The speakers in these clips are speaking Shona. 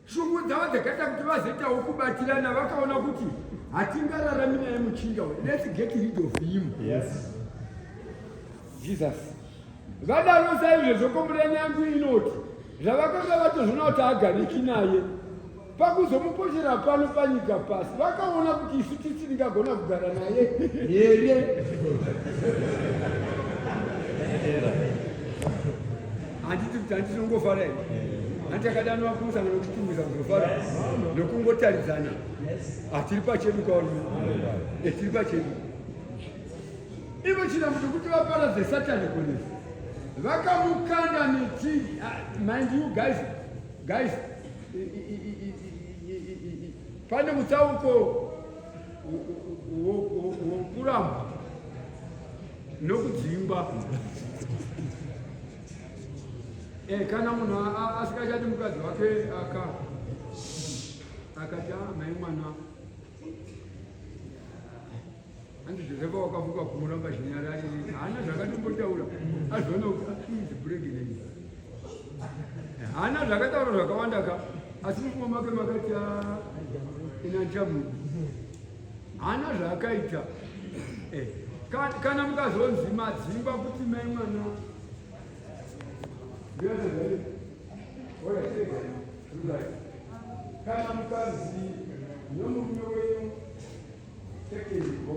Shungu dzavo dzakaita kuti vazoitawo kubatirana vakaona kuti hatingararami naye muchinda uyu. Let's get rid of him. Yes. Jesus. Vadaro saizvezvo komurani yangu inoti zvavakanga vatozvona kuti agariki naye pakuzomupochera pano panyika pasi vakaona kuti isu tisi ndingagona kugara naye here handiti kuti handiti nongofara here hanti akadanwa kumusangano kuchitungwiza kuzofara nokungotaridzana hatiri pachedu kaoni etiri pachedu ivo china kuti kuti vaparadze satani kunisi vakamukanda miti mind you guys guys pane mutsauko wokuramba nokudzingwa eh, kana munhu asikachati mukadzi wake aka akati ah, mai mwana hanzi josefa wakavuka kumuramba zvinyarari haana zvakatombotaura azviona kuti atinzi pregnant haana zvakataura zvakawanda ka asi mufuma make makati ah, inanchamuku Hana zvakaita. Eh. Kana mukazonzi madzimba kuti mai mwana. Kana mukazi nomurume wenyu take it go.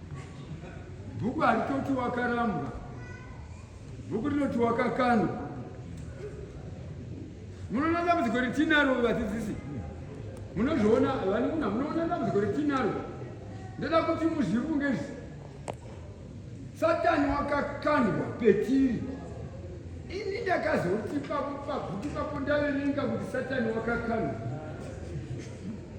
Bhuku haritoti wakarambwa, bhuku rinoti wakakandwa. Munoona dambudziko retinaro vadzidzisi, munozviona vanikuna, munoona dambudziko retinaro. Ndoda kuti muzvifunge izvi, Satani wakakandwa petiri. Ini ndakazoti pabhuku papo ndaverenga kuti Satani wakakandwa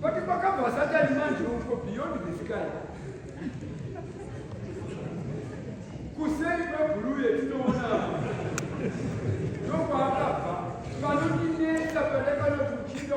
But kwakabva satani manje uko beyond the sky. Kuseri kwebhuruu yetinoona ndokwaakabva panondinetsa pane kana kuchinga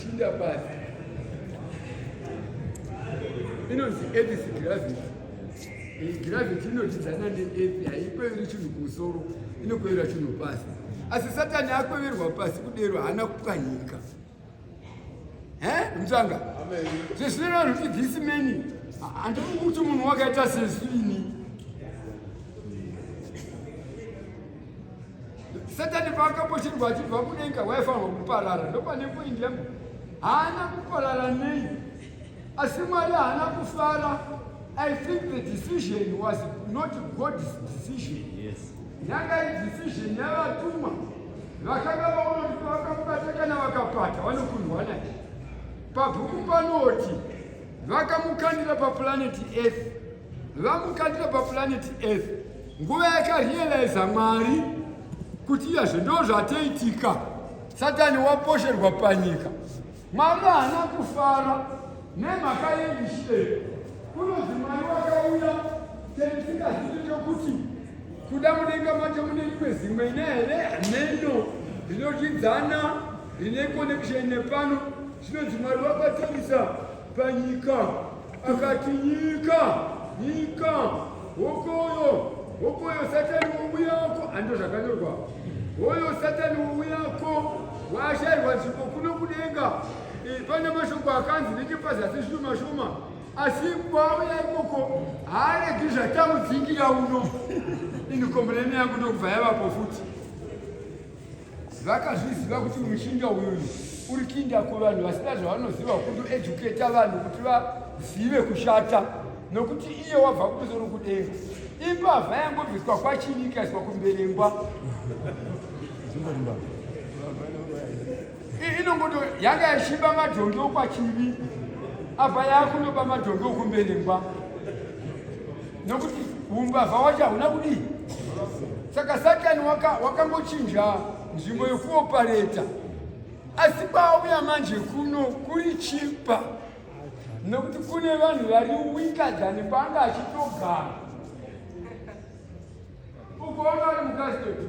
Shinda basi inonzi edis gravity iyi gravity inotidzana neethi haikweveri chinhu kumusoro inokwevera chinhu pasi asi satani akweverwa pasi kudero haana kupwanyika Eh, mtanga. Amen. This never this many. And ukuthi umuntu wakaita sesini. Satani paakaposhirwa achibva kudenga waifanirwa kuparara ndopane poindi yangu haana kuparara nei asi mwari haana kufara i think the decision was not god's decision yes. Yanga decision yavatumwa vakanga vaona kuti vakamubata kana vakapata vanokundwa naye. Pabhuku panoti vakamukandira papulaneti Earth, vamukandira papulaneti Earth nguva yakarealiza Mwari kuti iyazve ndozvataitika. Satani waposherwa panyika. Mwari haana kufara nemhaka yendishire kunonzi mwari wakauya tendisingazii chokuti kuda mudenga macho mune rimwe zimwe ine here hameno rinodyidzana rine connection nepano zvinonzi mwari wakatarisa panyika Akati nyika, nyika, hokoyo, hokoyo satani wowi yako, ando zvakanyorwa. Hoyo satani wowi yako, washairwa nzvimbo kuno kudenga. Pane mashoko akanzi nekepazasi zvishoma shoma, asi kwauya ikoko haaregi zvatamudzingira uno. Ini kombureni yangu ndokubva yavapo futi. vakazviziva kuti mushinga uyu uri kinda kuvanhu vasina zvavanoziva kutoeduketa vanhu kuti vazive kushata nokuti iye wabva kumusoro kudenga imbavha yangobviswa kwachini ikaiswa kumberengwa inongoto yanga yashiba madhongi okwachivi apa yakunoba madhongi okumbenengwa nokuti umbavha wacho hauna kudii saka satani wakangochinja waka nzvimbo yokuopareta asi kwauya manje kuno kuri chipa nokuti kune vanhu vari wikadhani kwanga achitogara Ukoona ari mukadzi toti.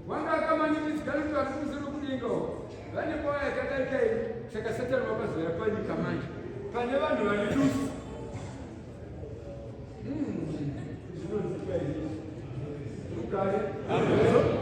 Wanga akamanikidzika kuti ari kumusoro kudenga uko. Vane kwaya yakadai kai saka Satani wakazoya panyika manje. Pane vanhu vane dusu. Hmm. Zvinonzika izvi. Rugare. Amen.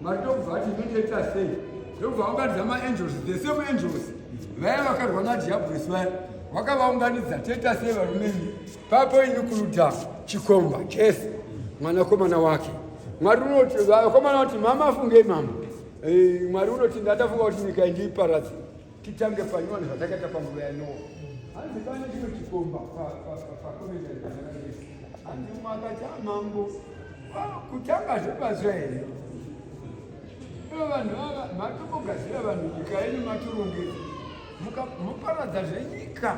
Mwari ndokubva ati ndotoita sei ndokubva vaunganidza maangels the same angels vaya vakarwa nadhiabhurisi vaya vakavaunganidza toita sei varumeni papo ini kuruda chikomba jese mwanakomana wake mwari unoti vakomana vati mama afungei mama eh, mwari unoti ndatafunga kuti nyika indiiparadzi Titange panyowani zvatakaita panguva yanoa hanzi pane chimwe chikomba pakomeaanzi umwe akati amambo ah, kutanga zvepazva here ivo vanhu ava matobogadzira vanhu nyika yenyu matorongedza muparadza zvenyika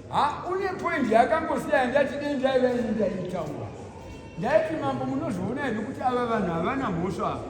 ha une poindi yakangosiya ndati dei ndaiva ini ndaitaura ndaiti mambo munozviona here kuti ava vanhu havana mhosva ava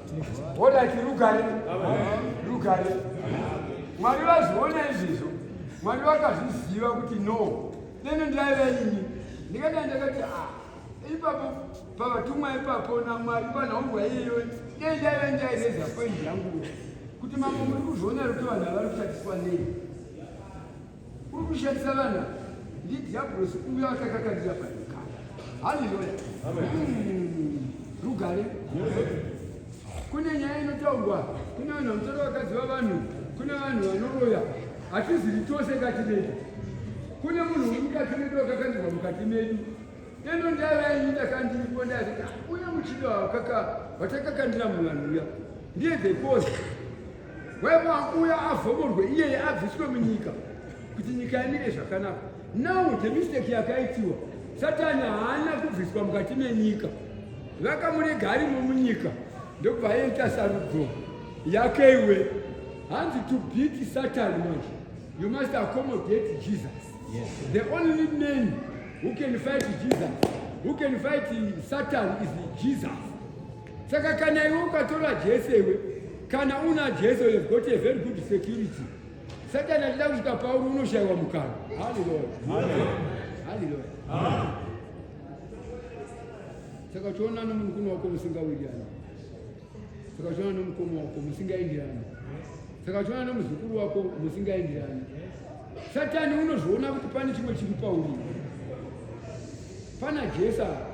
Honati rugare, rugare. Mwari vazviona izvizvo, Mwari vakazviziva kuti no, nene ndaiva ini ndikadai ndakati ah, ipapo pavatumwa ipapo namwari panhaumbwa iyeyo dei ndaiva ndaireza poindi yangu kuti mamwe muri kuzviona ruti vanhu avari kutatiswa nei Uri kushandisa vana ndidhiabhulosi uyo akakakandira panyika. Haleluya. Hmm. Rugare. Kune nyaya inotaurwa, kune vanhu vanotora vakadzi vavanhu, kune vanhu vanoroya. Hatizivi tose kati vedu. Kune munhu uri mukati medu akakandirwa mukati medu ino ndava yenyu ndakandiripo ndazvika uye muchido hwakaka hwatakakandira muvanhu uya ndiye the cause Wema akuuya avhomorwe iyeye abviswe munyika kuti nyika imire zvakanaka. Now the mistake yakaitiwa Satani haana kubviswa mukati menyika, vakamurega arimo munyika ndokubva aita sarudzo yake. Iwe hanzi to beat Satan manje you must accommodate Jesus. Yes. The only man who can fight Jesus, who can fight Satan is Jesus. Saka kana iwe ukatora Jesu iwe kana una Jesu you have got a very good security. Satan alida kuita Paulo unoshaiwa mukana. Hallelujah. Hallelujah. Saka choona nomukuno wako musingawirirani. Saka choona nomukoma wako musingaenderani. Saka choona nomuzukuru wako musingaenderani. Satani unozoona kuti pane chimwe chiri pauri. Pana Jesu apa.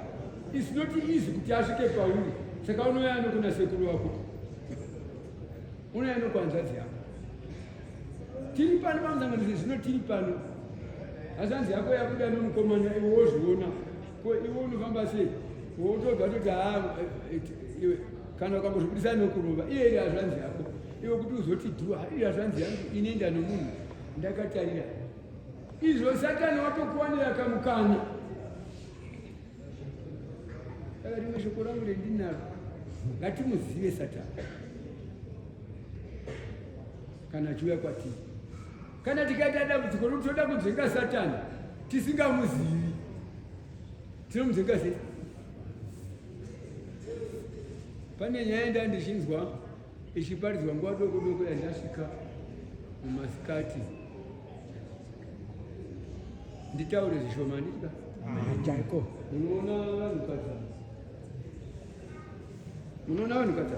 It's not easy kuti asvike pauri. Saka unouya anokuna sekuru wako. Unouya anokwanzadzi yako. Tiri pano pamusanganidzo zvino tiri pano. Hazanzi yako yakuda nomukomana iwe wozviona. Ko iwe unofamba sei wotobva toti haa eh, eh, iwe kana ukambozvibudisa nokurova iye iri hazvanzi yako iwe kuti uzoti dhuwa iri hazvanzi yangu inoenda nomunhu ndakatarira izvo satani watokuwanira kamukana saka rimwe shoko rangu rendinaro ngatimuzive satani kana achiuya kwatiri Kana tikaita dambudziko rokuti toda kudzinga Satani tisingamuzivi, tinomudzinga sei? Pane nyaya yenda ndichinzwa ichiparidzwa nguva doko doko yandasvika mumasikati nditaure zvishoma ndika chaiko unoona vanhu kadza unoona vanhu kadza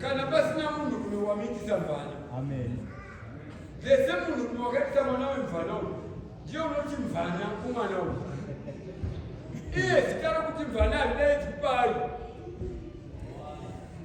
kana pasina munhu rume wamiitisa mvana vese munhu rume wakaitisa mwana wemvana uyu ndiyo unoti mvana kumwana uyu iye zita rokuti mvana haridaidzi payo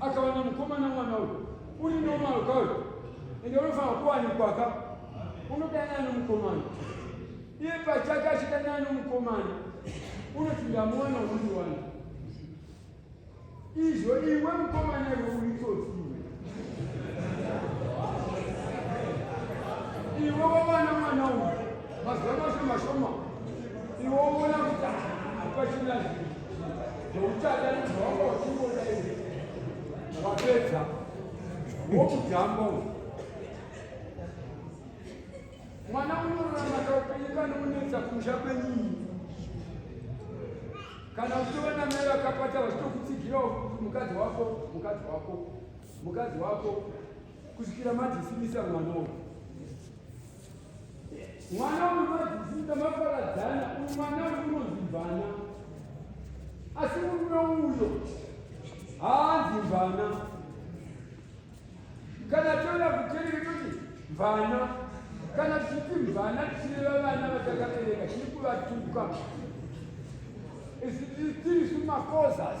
akawana mukomana mwana uyu uri normal ka uyu ende unofanira kuwanikwaka unodanana nomukomana iye pachake achidanana nomukomana unoti ndamuwana unondiwana izvo iwe mukomana iwe uitsotsi iwe iwe wawana mwana uyu Mazuva mashoma shoma iwo uona kuti hapachina zveuchada nezvaonga uchingoda iwe wapedza wokujamba uyu mwana unorarama kaupenyu kana unetsa kumusha kwenyini kana uchitova namai vakapata vachitokutsigirawo mukadzi wako mukadzi wako mukadzi wako kusvikira madhisimisa mwana uyu mwana unomadzidzisa maparadzana umwana unozimbana asi murume uyo haanzi mvana kana toda kutereka toti mvana kana tichiti mvana tichireva vana vatakabereka tiri kuvatuka is it still suma causes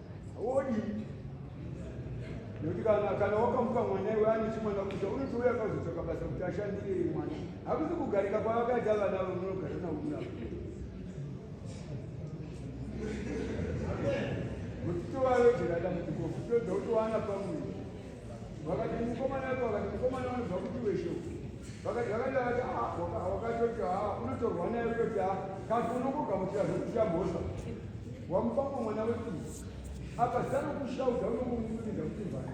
haudii nekuti kana kana wakamuka mwana iwe ane chimwana kuta unoti uya akazotsvaka basa kuti ashandire mwana hakusi kugarika kwavakaita vana vamunogara nauna kuti tovavedzerada mutikofu todza kutowana pamwe vakati mukomana wako vakati mukomana wanoziva kuti wesho vakati vakati vakati ah, wakatoti ha ah, unotorwa naye kutoti ha ah, kati unokugamuchira zvekuchita mhosva wamupako mwana weku apa zano kushauda unokumudza kuti vhai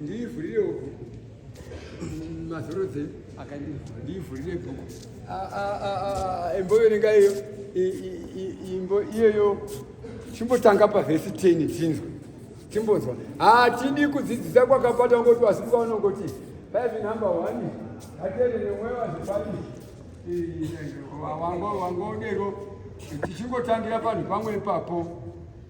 Ndivhurire uku mazorodze akandivhura ndivhurire bhuku imboverenga iyo imbo iyoyo chimbotanga pavhesi teni tinzwe timbonzwa hatidi kudzidzisa kwakapata ngoti asi kwaunongoti paive number one haterere mweyo azipani wangodero tichingotangira panhu pamwe ipapo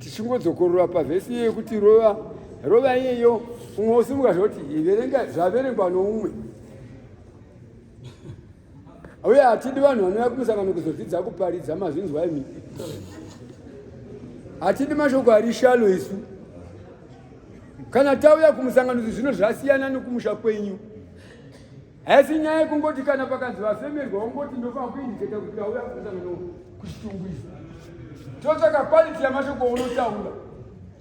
tichingodzokorora pavhesi iye yekuti rova rova iyeyo umwe usimuka zvoti iverenga zvaverengwa noumwe uye hatidi vanhu vanouya kumusangano kuzodzidza kuparidza mazvinzwa imi hatidi mashoko ari shalo isu kana tauya kumusangano izvi zvino zvasiyana nokumusha kwenyu Haisi nyaya yekungoti kana pakanzi vafemerwa wongoti ndofana kuindiketa kuti auya kumusangano kuchitungwiza. Totsvaka quality yamashoko unotaura.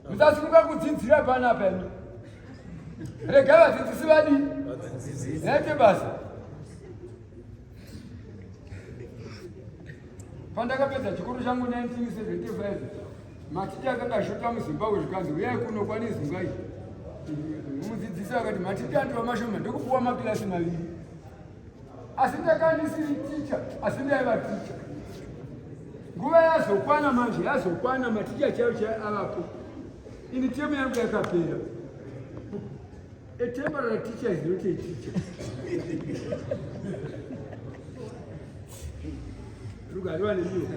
Musasimuka kudzidzira panapa imi. Rega vadzidzisi vadii? Naite basa. Pandakapedza chikoro changu 1975 Maticha akanga ashota muzimbabwe zvikanzi uyai kuno kwane zungai mudzidzisi akati maticha andiwa mashoma ndokupuwa makilasi maviri asi ndaka ndisiri ticha asi ndaiva ticha nguva yazokwana manje yazokwana maticha chayo chayo avapo ini temu yangu yakapera A temporary teacher is not a teacher. Rugariwa nemiwo.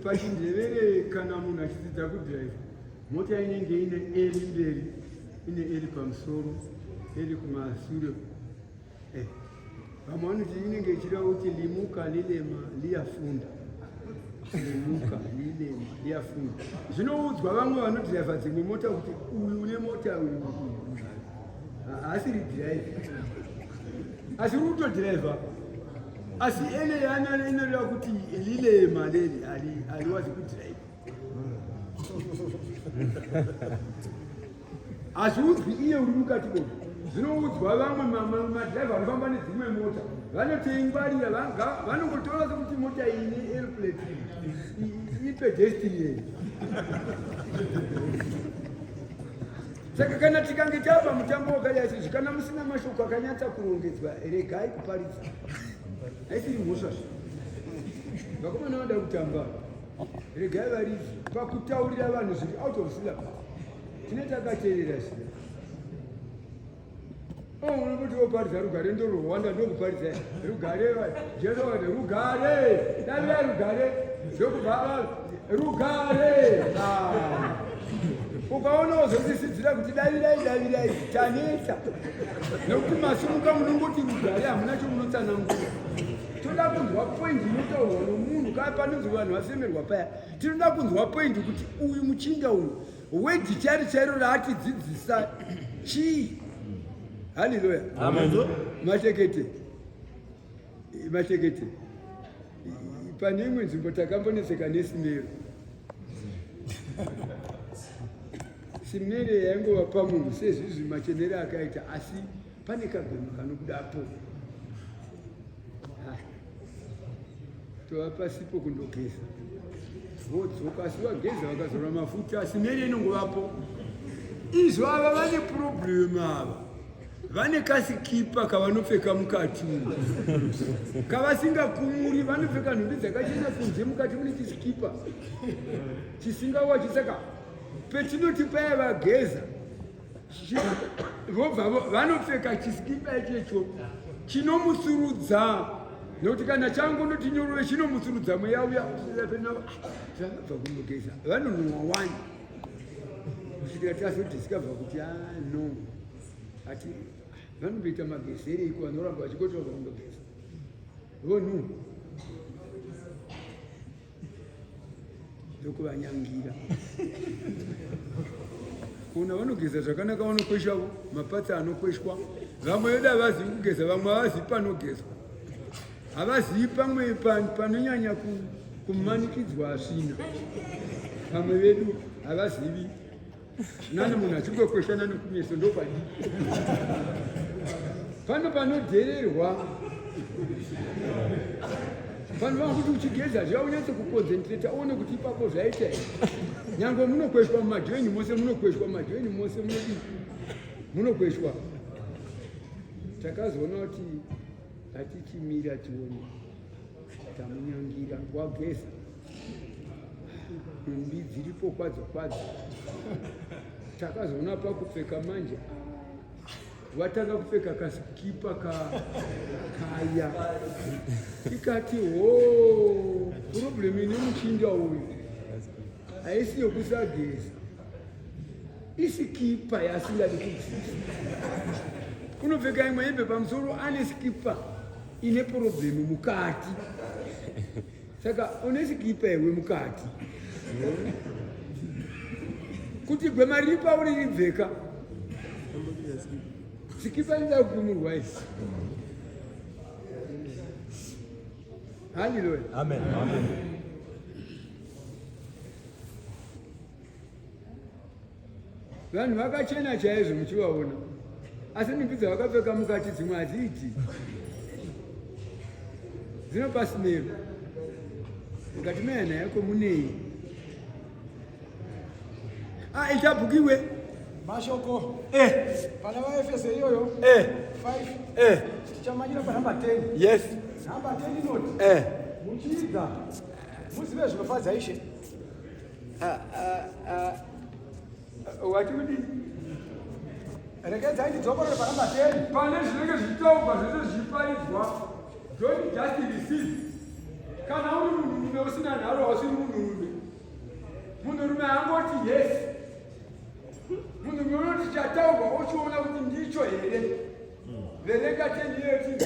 Pachindevere kana munhu achidzidza kudrive, mota inenge ine eri mberi, ine eri pamusoro, eri kumasure. Eh, vamwe vanoti inenge ichireva kuti limuka lilema liyafunda limuka lilema liyafunda zvinoudzwa vamwe vanodhiraivha dzimwe mota kuti uyu une mota uyu haasiri dhiraivha asi uri kutodhiraivha asi ene yaana inoreva kuti lilema leli aliwazi kudhiraivha hazviudzwi iye uri mukati moto zvinoudzwa vamwe madrive anofamba nedzimwe mota vanotoingwarira vanongotora sekuti mota iyi neairplate ipedestinian saka kana tikange tava mutambo wakadai sezvi kana musina mashoko akanyatsa kurongedzwa regai kuparidza aisiri mhosva zve vakomana vada kutamba regai varidzi pakutaurira vanhu zviri out of syllabus tine takateerera zviya oh, unoti woparidza rugare ndo rwanda ndokuparidza rugare jesu wati rugare davira rugare zvokubva rugare ah. ukaona wozosisidzira kuti davirai davirai tanetsa nokuti masimuka munongoti rugare hamuna chomunotsanangura tinoda kunzwa point inotaurwa nomunhu kaa panonzi vanhu vasemerwa paya tinoda kunzwa point kuti uyu muchinda uyu wedi chari chairo raatidzidzisa chii haleluya matekete matekete pane imwe nzvimbo takambonetseka nesimero simere yaingova pamunhu sezvizvi machenere akaita asi Pane kagoma kanobuda apo. Ah. Tova pasipo kundogeza. Vodzoka asi vageza vakazora mafuta asi mene inongovapo. Izvo ava vane problem ava. vane kasikipa kavanopfeka mukati umu kavasingakumuri vanopfeka nhumbi dzakachena kunze mukati mune chisikipa chisingawachi saka petinoti paya vageza vobva vanopfeka chisikipa ichecho chinomusurudza nokuti kana changu noti nyorove chinomusurudza mweya uya zvakabva kunogeza vanonhuwa wani kusvikira tazodiscova kuti a ah, no ati vanomboita magezere iko vanoramba vachikotora kunogeza vonhu ndokuvanyangira kuna vanogeza zvakanaka vanokwesha mapatsa anokweshwa vamwe vedu havazivi kugeza vamwe havazivi panogezwa havazivi pamwe panonyanya kumanikidzwa asvina vamwe vedu havazivi Nani munhu achingokweshana nokumeso ndopadii? Pano panodhererwa vanhu vanga kuti uchigeza zviya unyatso kuconcentrata uone kuti ipapo zvaita here nyange munokweshwa mumadheni mose munokweshwa mumadheni mose munodi munokweshwa takazoona kuti hatichimira tione tamunyangira wageza mbi dziripo kwadzo kwadzo takazoona pakupfeka manje vatanga kupfeka kasikipa ka kaya ikati ho oh, problem ine muchinja uyu haisi yokusageza isikipa yaasingadi kudzisa kunopfeka imwe hembe pamusoro ane sikipa ine problem mukati Saka une sikipa iwe mukati kuti gwema riri pauri ribveka sikipa inoda kupumurwa isi haleluya amen, amen. Vanhu vakachena chaizvo muchivaona, asi nhumbi dzavakapfeka mukati dzimwe hadziiti dzinopa simero mukati mehana yako munei aita ah, bhukiwe mashoko eh. pana vaefese iyoyo eh. eh. tichamanyira panhamba 10 yes nhamba 10 inoti eh. muchiidza muzive zvinofadza ishe Ah, ah, ah. Wati kuti rekedza ndidzokorore pana mateni pane zvinenge zvitaurwa zvese zvichiparidzwa don't just receive kana uri munhurume usina nharo hausiri munhurume munhurume angoti yes munhurume unoti chataurwa ochiona kuti ndicho here verenga teni yeyo chii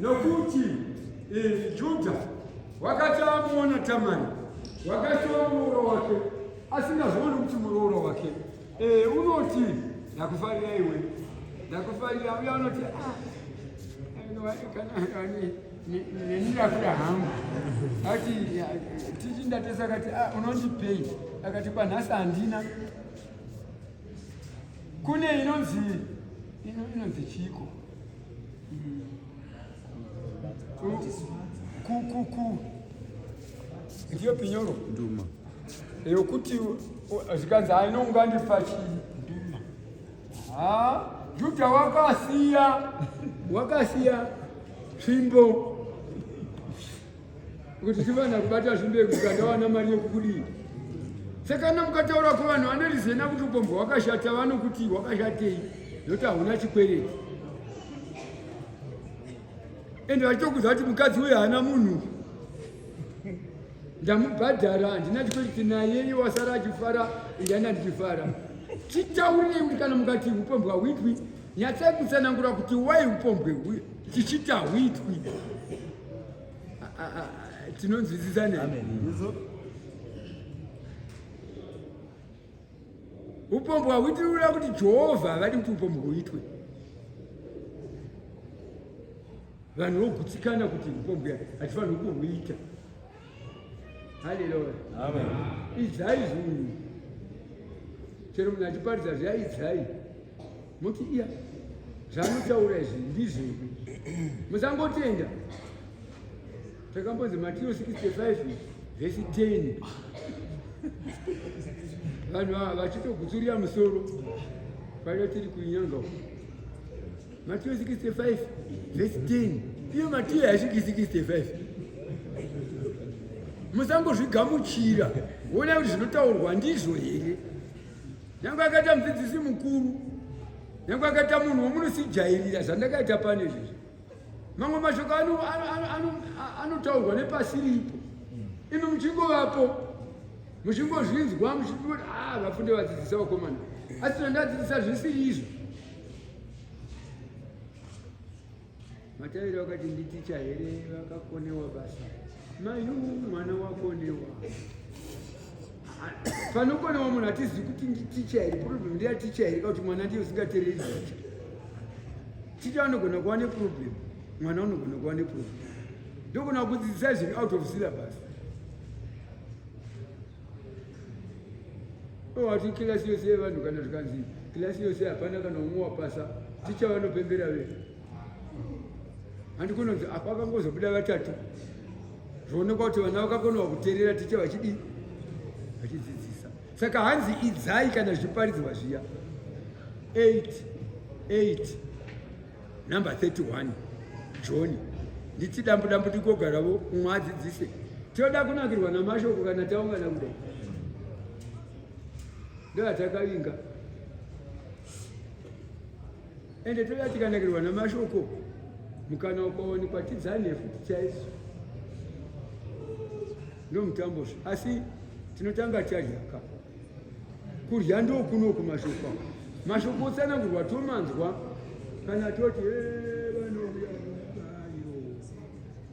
Nokuti eh, Judha wakati amuona Tamari wakashora murooro wake asingazooni kuti murooro wake e, unoti ndakufarira iwe ndakufarira uye anoti ah, nenirakuda hangu ati tichi ndatesa akati ah, unondipei akati kwanhasi handina kune inonzi inonzi chiko kukuku ndiyo pinyoro nduma yokuti zvikanzi ainonga ndifachi nduma ha juda wakasiya wakasiya tsvimbo kuti chivana kubata zvimbe kuti kadawana mari yekukudii sekana mukataura kuvanhu vanorizena kuti upombwe hwakashata vanokuti hwakashatei nokuti hauna chikwereti ende vachitokuza kuti mukadzi uyo haana munhu ndamubhadhara handina chikwereti naye iye wasara achifara ndiyana ndichifara chitaurirei kuti kana mukati upombwe hauitwi nyatsai kutsanangura kuti wai upombwe chichita hwitwi Ah, ah, ah, tinonzwisisa ne upombo hauitiri kuda kuti jehovha havadi kuti upombo huitwe vanhu vogutsikana kuti upombo hatifaniri kuhuita haleluya idzai zvinhu chero munhu achiparidza zviya idzai muti iya zvamuchaura izvi ndizvedu musangotenda takambonzi matiro 65 vhesi 10 vanhu vachitogutsurira musoro paida tiri kuinyanga Matthew 65 verse 10 iyo Matthew haisviki 65 musangozvigamuchira wona kuti zvinotaurwa ndizvo here nyange akaita mudzidzisi mukuru nyange akaita munhu womunosijairira zvandakaita pane izvezvi mamwe mashoko anotaurwa nepasi ripo imi muchingovapo muchingozvinzwa muchingoti a ah, vafunde vadzidzisa vakomana asi tona ndadzidzisa zvisiri izvo Matavira wakati nditicha here vakakonewa basa mayu mwana wakonewa panokonewa munhu atizivi kuti nditicha here problem ndiya ticha here kakuti mwana ndiye usingatereri ticha ticha anogona kuva neproblem mwana unogona kuva neproblem ndogona kudzidzisa zvinhu out of syllabus wati kilasi yose yevanhu kana zvikanzi kilasi yose hapana kana umwe wapasa ticha vanopembera ve handi kunonzi apa akangozobuda vatatu zvoonekwa kuti vana vakakonewa kuteerera ticha vachidii vachidzidzisa saka hanzi idzai kana zviparidzwa zviya 8 8 Number 31 John nditi dambu dambu tigogaravo umwe adzidzise toda kunakirwa namashoko kana taungana kudai ndoatakavinga ende toda tikanakirwa namashoko mukana ukaonekwa tidzane futi chaiso ndomutambo asi tinotanga chadyaka Kurya ndokunoku mashoko. Mashoko otsanangurwa tomanzwa kana toti eh, vanouya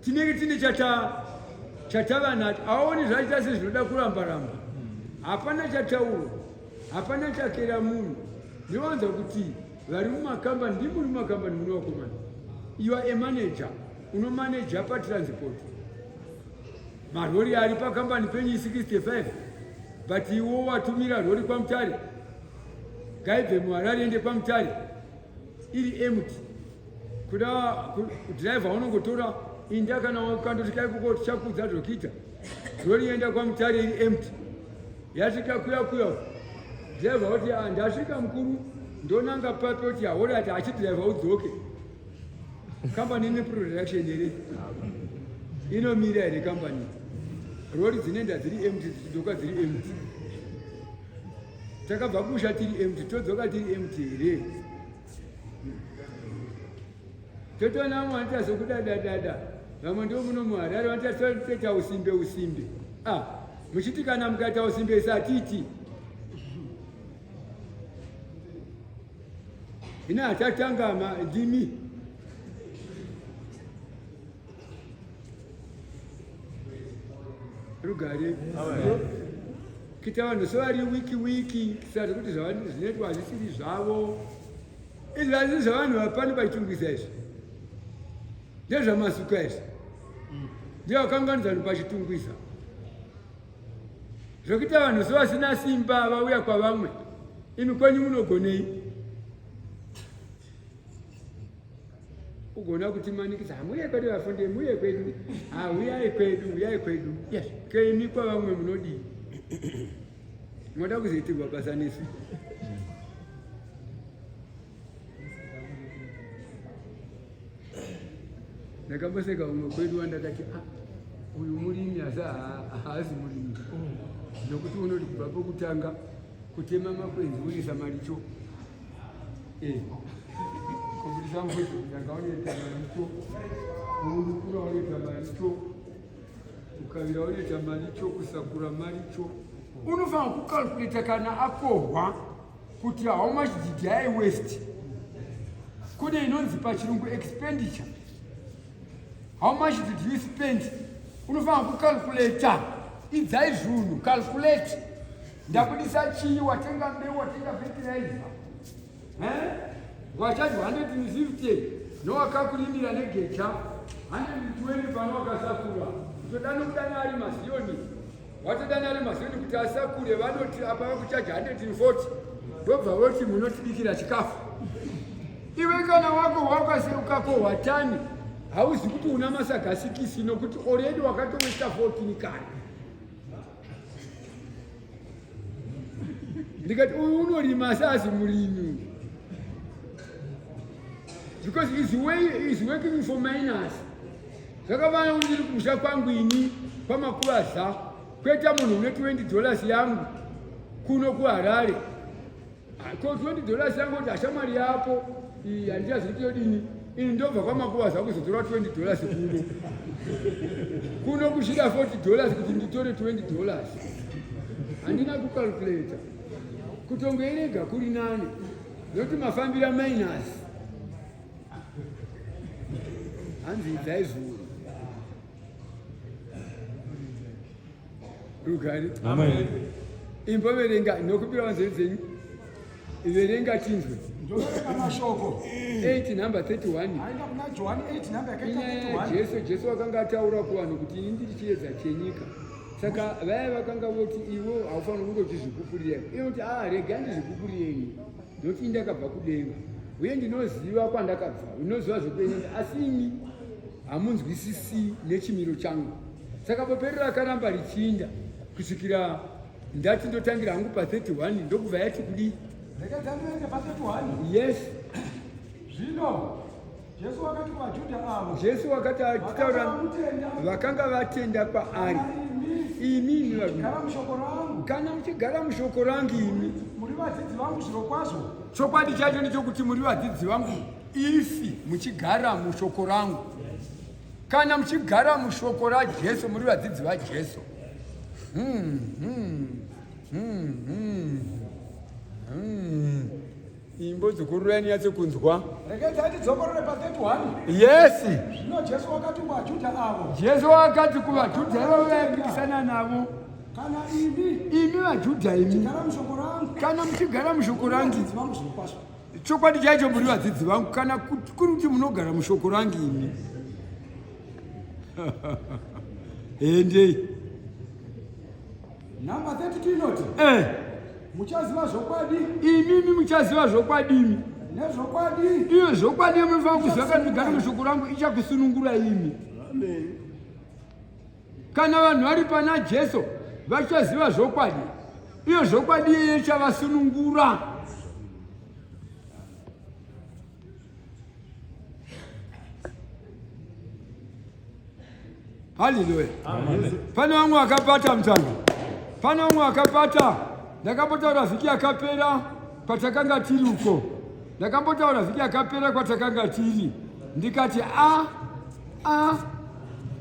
tinenge tine chata chatava nacho aoni zvaita se zvinoda kuramba ramba hapana chataurwa hapana chakera munhu ndinowanza kuti vari mumakambani ndi muri mumakambani mune wakomana you are a manager unomaneja patransport Marori ari pakambani penyu 65 but iwo watumira rori kwamutare ngaibve muharare ende kwamutare iri empty kuda driver unongotora inda kana wakandoti kaikuko tichakudza zvokuita rori enda kwamutare iri empty yasvika kuya kuya driver oti ah, ndasvika mukuru ndonanga papi oti haorati achidriver udzoke okay. Company ine production here? Inomira here company? Rori dzinoenda dziri empty dzidzoka dziri empty. Takabva kusha tiri empty todzoka tiri empty here? Totoona vamwe vanoita zvokudadadada vamwe ndivo muno muharare vanoita toita usimbe usimbe. Ah, muchiti kana mukaita usimbe satiti. Hina achatanga ma ndimi. Rugare. Kita vanhu sevari wiki wiki kisati kuti zvinoitwa hazvisiri zvavo. Izvi hazvisi zvavanhu vapani pachitungisa izvi. Ndezvamasuka izvi. Ndiye wakanganidza vanhu pachitungisa. zvekuita vanhu sevasina simba vauya kwavamwe imi kwenyu munogonei ugona kuti manikisa hamuye kwedu vafundi muye kwedu hauyai kwedu uyai kwedu yes kemi kwavamwe munodii moda kuzoitirwa basa nesu ndakamboseka umwe kwedu wandakati ah, uyu murimi asi haazi murimi nokuti unoti kubva pokutanga kutema makwenzi unisa maricho eh, kubudisa mbuzi kutanga unoita maricho kuurukura unoita maricho kukavira unoita maricho kusakura maricho unofanira kukalkuleta kana akohwa kuti how much did I waste kune inonzi pachirungu expenditure how much did you spend unofanira kucalculator idzai zvunhu calculate ndakudisa chii watenga mbeu watenga fertilizer eh? wachaji 150 nowakakulimira negecha 120 pano wakasakura zvoda nokudana ari maziyoni Watodana ari mazoni kuti asakure vanoti apa vakuchaja 140 ndobva voti munotibikira chikafu. Iwe kana wako wakaseukako watani hauzi kuti una masaga sikisi nokuti already wakatoita 14 kare. Ndikati uyu unorima sazi murimi because he's, way, he's working for minors. Zvakafana kuti ndiri kumusha kwangu ini kwamakuraza kweta munhu une 20 dollars yangu kuno kuharare ah, ko 20 dollars yangu kuti hashamwari yapo handichazi kuti yodini ini ndobva kwamakuvaza kuzotora 20 dollars kuno kuno kushida 40 dollars kuti nditore 20 dollars handina kukalkuleta kutongoerega kuri nani nokuti mafambira minus hanzi idzai zviuru rugari imba verenga nokupira vanzeve dzenyu verenga tinzwe jesu jesu wakanga ataura kuvanhu kuti ini ndiri chiedza chenyika saka vaya vakanga voti iwo haufaniri kunge uchizvipupurira iye kuti a ah, rega ndizvipupurire ini Ndoti ndakabva kudenga uye ndinoziva kwandakabva, ndinoziva zvekuenda, asi imi hamunzwisisi nechimiro changu. Saka bope riri rakaramba richinda kusvikira ndati ndotangira hangu pa 31 ndokubva yati kudii? Ndakatanga pa 31. Yes. Zvino Jesu wakati kwaJuda ava. Jesu wakati achitaura vakanga vatenda kwaari. Imi imi varume. Kana mushoko rangu. Kana muchigara mushoko rangu imi. Muri vadzidzi vangu zviro kwazvo. Chokwadi chacho ndichokuti muri vadzidzi vangu ifi muchigara mushoko rangu. Kana muchigara mushoko raJesu muri vadzidzi vaJesu. Hmm, hmm, hmm, hmm, hmm. Imbo dzukuru reni yatsi kunzwa. Rekedza tidzokorore pa 31. Yes. Zvino Jesu wakati kwa Juda avo. Jesu wakati kuva Juda avo vayambikisana navo. Kana imi. Imi va Juda imi. Chigara mushoko rangu. Kana muchigara mushoko rangu. Vadzidzi vangu zvinokwaswa. Chokwadi chaicho muri vadzidzi vangu kana kuri kuti munogara mushoko rangu imi. Endei. Number 32 inoti eh. Muchaziva zvokwadi imimi muchaziva zvokwadi imi nezvokwadi iyo zvokwadi yemunofanira kuziva kana migari mushoko rangu ichakusunungura imi kana vanhu vari pana jesu vachaziva zvokwadi iyo zvokwadi yeye chavasunungura Haleluya. Pane vamwe vakapata mutanga, pane vamwe vakapata. Ndakambotaura vhiki yakapera kwatakanga tiri uko, ndakambotaura vhiki yakapera kwatakanga tiri ndikati a a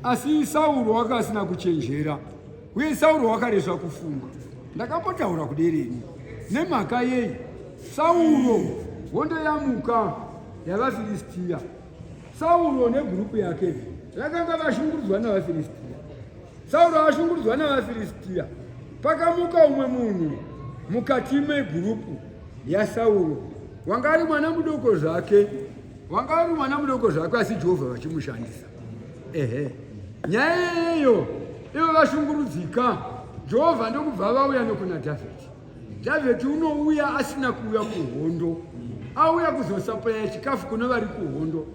asi Sauro wanga asina kuchenjera. Uye Sauro wakaresva kufungwa. Ndakambotaura kuderi ini. Nemhaka yei? Sauro hondo yamuka yavaFiristia. Sauro negurupu yake vakanga vashungurudzwa navaFiristia. Sauro ashungurudzwa navaFiristia. Pakamuka umwe munhu mukati megurupu yaSauro. Wanga ari mwana mudoko zvake. Wanga ari mwana mudoko zvake asi Jehovha vachimushandisa. ehe nyaya iyeyo ivo vashungurudzika jehovha ndokubva vauya nokuna dhavhidhi dhavhidhi unouya asina kuuya kuhondo auya kuzosaplaya chikafu kuna vari kuhondo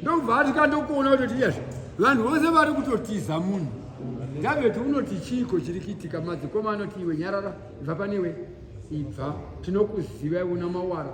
ndokubva atika ndokuona kutoti iyazvo vanhu vose vari kutotiza munhu dhavhidhi unoti chiiko chiri kuitika madzikoma anoti iwe nyarara ibva panewe ibva tinokuziva iwe una mawara